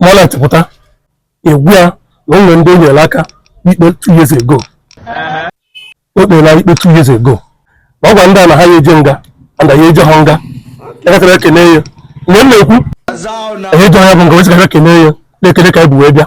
Moonlight pụta egwu ya na o nwe ndị o nyere aka ikpe two years ago o kpere ikpe two years ago na ọ gwa ndị a na ha ya eje nga ana ya eje ha nga ekekere ekene ya mgbe m na-ekwu eje ha bụ nga wezigara ekene ya na-ekele ka anyị bụ wee bịa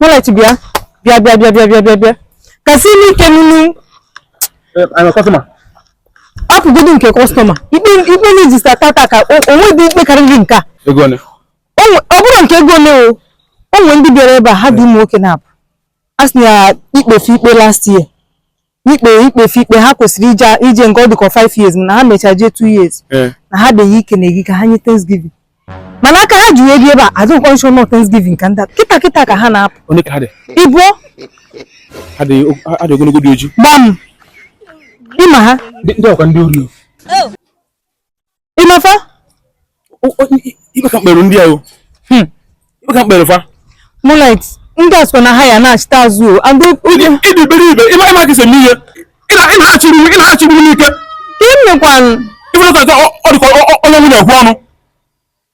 Moonlight bịa bịa bịa bịa bịa bịa bịa bịa kasị n'ike nunu hapụgodu nke customer ikpe ikpe na-ejista tata ka o nwedị ikpe karịrị nke a ọ bụrụ nke ego ole o nwe ndị bịara ebe a ha dị ụmụ nwoke naabọ a sị na ikpefe ikpe last year n'ikpe ikpefe ikpe ha kwesịrị ije nga ọ dịka 5 years na ha mechaa jee 2 years eh. na ha beghị ike na-egi ka ha nye thanksgiving mana aka ha ji wee bịa ebe a adịghịkwa m sure na ọ thanksgiving ka ndị kịta kịta ka ha na-apụ ibu adị ogologo dị oji gbam ịma ha ndị ọkwa ndị ori ị ma fa ịmaka mkpere ndị ahụ hmm. ịmaka mkpere fa moonlight ndị a sọ na ha ya na-achịta azụ o and oge ị dị iberibe ịma ịma gị seme ihe ịna-achịgbu ịna-achịgbu n'ike ka ị mekwanụ ịfụrụ ka ọ dịkwa ọnụ nwunye ekwu ọnụ